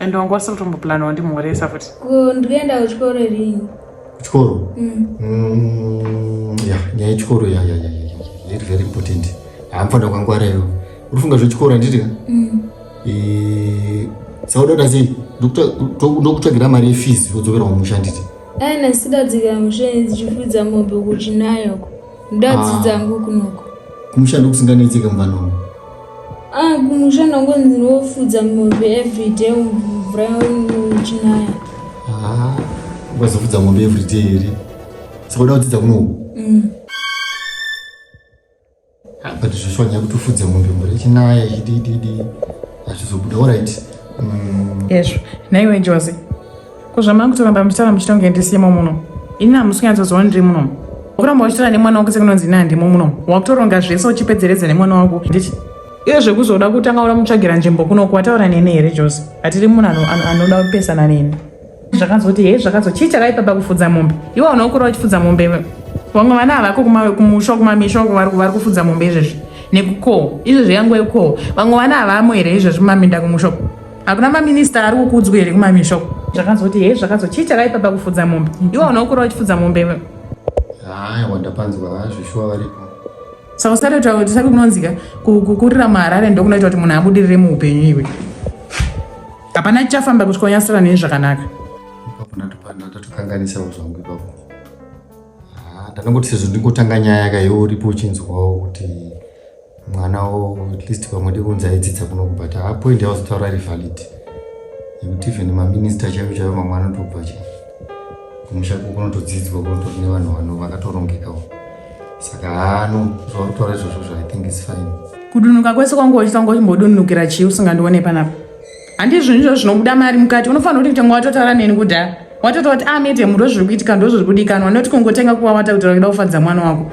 and wanga usiri kutomboplanawo ndimhoresa futi kundienda kuchikoro rini chikoro mm. mm, ya nyaya yechikoro ya ya ya iri very important haamfanira kwangwara iyo urifunga zvechikoro handiti ka mm. e, sauda kuda sei ndokutsvagira mari yefees yodzokera kumusha handiti aina sidadzikira musha ndichifudza mombe kuchinayoko ndadzidza ah. ngu kunoko kumusha ndokusinganetseke mvanomo Ah, kumusha ndangonzi ndofudza mombe everyday mvura yochinaya. Ah, ukazofudza mombe everyday here? Saka uda kudzidza kunoku? Mm. Ah, but zvoshuwa nyaya kuti ufudze mombe mvura yochinaya ichidididi hazvizobuda. All right. Mm. Yesvo. Nhaiwe Joze. Ko zvamanga kutoramba muchitaura muchita kunge ndisimo muno. Ini hamusi kunyatsoziva ndiri muno. Wakuramba uchitaura nemwana wako sekunonzi ini handimo muno. Wakutoronga zvese uchipedzeredza nemwana wako. Ndichi iye zvekuzoda kutanga ura mutsvagira nzvimbo kuno kuwataura neni here jose hatiri munhu anoda kupesana neni zvakazoti hei zvakazo chii chakaipa pakufudza mombe iwe unokura wachifudza mombe vamwe vana havako kumusha kumamisha uko vari kufudza mombe izvezvi nekukoho izvezvi yangu ekukoho vamwe vana havamo here izvezvi mumaminda kumusha hakuna maminista ari kukudzwa here kumamisha uko zvakazoti hei zvakazo chii chakaipa pakufudza mombe iwe unoukura uchifudza mombe iwe haya wandapanzwa vazvishuwa varipo saka usati taura kuti sati kunonzika kukurira muharare ndokunoita kuti munhu abudirire muupenyu iwe hapana chichafamba kuti konyasira nei zvakanaka ndatokanganisawo zvangu ipapo ah, ndanongoti sezvo ndingotanga nyaya ka iwe uripo uchinzwawo kuti mwana wo at least pamwe ndikunzi aidzidza kuno but a point yawazotaura iri valid yekuti even maminista chaivo chaivo mamwe anotobva cha kumusha ko kunotodzidzwa kunotori nevanhu vano vakatorongekawo saka hano zvauri kutaura izvozvo zvo i think is fine kudunuka kwese kwanga uchitanga uchimbodunukira chii usingandione panapa handi zvinhu izvo zvinobuda mari mukati unofanira kuti kutanga watotaura neni kudhaya watotaura kuti amete ah, muro zviri kuitika ndozviri kudikanwa noti kungotenga kuwawata kuti rakida kufadza mwana wako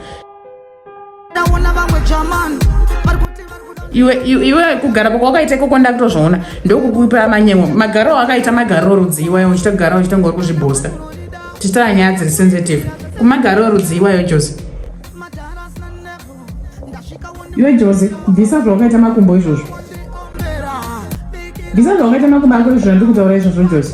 iwe iwe kugara kwako wakaita ikoko ndakutozviona ndokukupa manyemwo magaro akaita magaro rudzi iwayo uchita kugara uchita ngori kuzvibhosta tichitara nyaya dziri sensitive kumagaro rudzi iwayo jose iwe jose bvisa zvawakaita makumbo izvozvo bvisa zvawakaita makumbo ako izvozvo ndikutaura izvozvo jose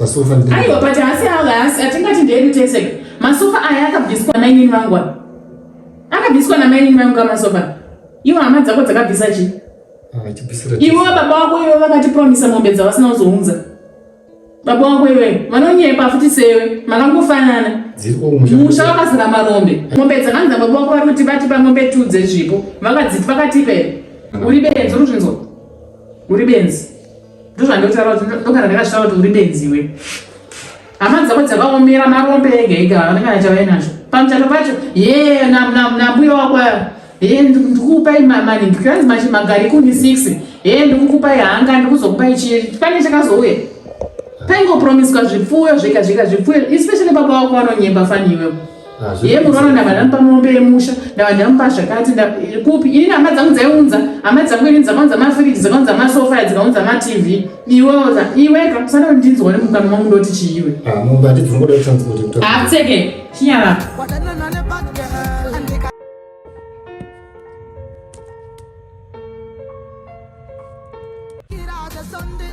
Masofa ndi. Ayo but hasi hala hasi atingati ndiye kutese. Masofa aya akabviswa na inini vangu. Akabviswa na maini vangu kama sofa. Iwo hama dzako dzakabvisa chi? Ah, chibvisira. Iwo baba wako iwo vakati promise mombe dzavasina kuzounza. Baba wako iwe vanonyepa futi sewe makangofanana. Musha wakazara marombe. Mombe dzakanza baba wako vari kuti vatipa mombe tu dzezvipo. Vakadziti vakatipa here? Uri benzi uri zvinzwa. Uri benzi. ndozvandotaura kuti ndogara ndakazvitaura kuti uri benzi iwe hama dzako dzakaomera marombe ega ega havana kana chavainazvo pamuchato pacho ye nambuya wako ye ndikukupai mamani ndikazi machi magari kumi six ye ndikukupai hanga ndikuzokupai chii pane chakazouya paingopromiswa zvipfuyo zvega zvega zvipfuyo especially baba wako vanonyemba fani iwewo ye munoona ndanga ndamupa mombe yemusha ndanga ndamupa zvakati kupi ini hama dzangu dzaiunza hama dzangu ini dzakaunza mafiriji dzakaunza masofa dzikaunza matv iwe iweka usana kuti ndinzwa ne mukana mangu ndoti chiiwe apfeke chinyara Sunday,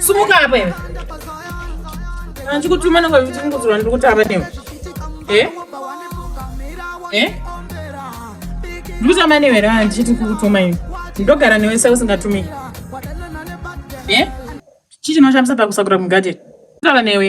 sumuka apa iwe andikutuma nanga kuti kungodzorwa ndiri kutava newe e e ndiri kutama newe ra ndichiti kukutuma iwe ndogara newe sa usingatumiki e chii chinoshamisa pakusakura mugadheni kutava newe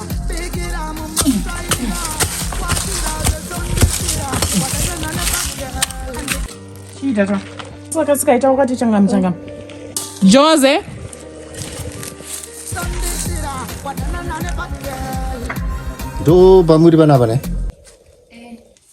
chiitaka saka sikaita wakati changamu changamu jose ndo pamuri panapa ne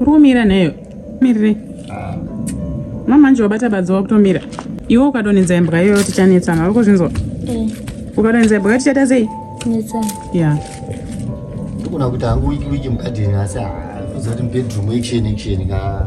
uri kumira neyo mirire mamanje wabata badzi wakutomira iwe ukadonhedza imbwa iyoyo tichanetsana uri kuzvinzwa eh. ukadonhedza imbwa tichaita sei ya ndikuona kuti hangu wiki wiki mugadheni asi hafuza kuti mubedroom action action ka